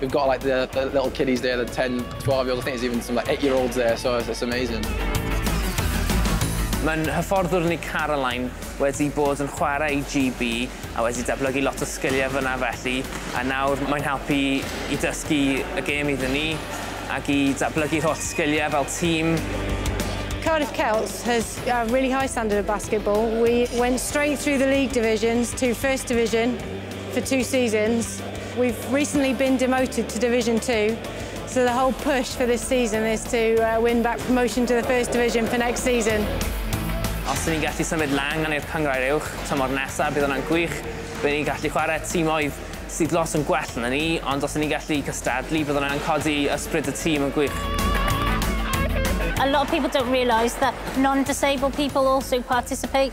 We've got like the the little kiddies there the ten twelve year olds I think there's even some like eight year olds there so it's amazing. Mae'n hyfforddwr ni Caroline wedi bod yn chwarae i GB a wedi datblygu lot o sgiliau fyna felly a nawr mae'n helpu i dysgu y gêm iddyn ni ac i datblygu'r holl sgiliau fel tîm. Cardiff Celts has a really high standard of basketball. We went straight through the league divisions to first division for two seasons. We've recently been demoted to Division 2, so the whole push for this season is to uh, win back promotion to the First Division for next season. Os ni'n gallu symud lan gan i'r cyngrau uwch tymor nesaf, bydd hwnna'n gwych. Bydd ni'n gallu chwarae tîmoedd sydd lot yn gwell na ni, ond os ni'n gallu cystadlu, bydd hwnna'n codi ysbryd y tîm yn gwych. A lot of people don't realise that non-disabled people also participate